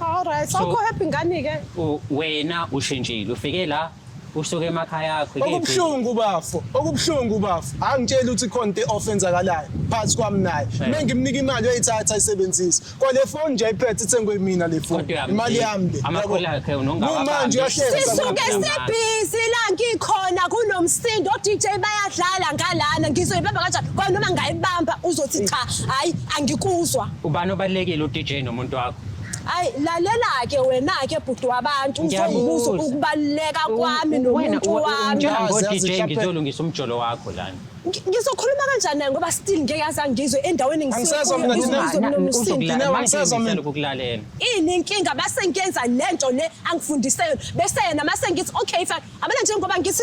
Alright, So- awukho happy ngani ke? U- wena ushintshile ufike la usuke emakhaya akho kephi? okubuhlungu bafo okubuhlungu bafo angitshela ukuthi khona into i-off enzakalayo phakathi kwami naye Eh. me ngimnika imali uyayithatha ayisebenzise kwale foni nje ayiphethe ithengwe mina le foni Kodwa uyamdinga. imali yami le Amakhulu akhe unongawabambi. kumanje uyahleka Sisuke Sisuke Sisuke sibhizi la ngikhona kunomsindo oDJ bayadlala ngalana ngizoyibamba kanjani kwanoma ngayibamba uzothi cha hayi angikuzwa Ubani obalekile uDJ nomuntu wakho? Ay lalela ke wena ke bhuti wabantu uzobuza ukubaluleka kwami nomuntu wami. Njengo DJ ngizolungisa umjolo wakho lana. Ngizokhuluma kanjani naye ngoba still ngeke azangizwe endaweni ngisizomnomsindo ukulalela. Ini inkinga base ngiyenza lento le angifundise yona bese yena mase ngithi okay fine abana njengoba ngithi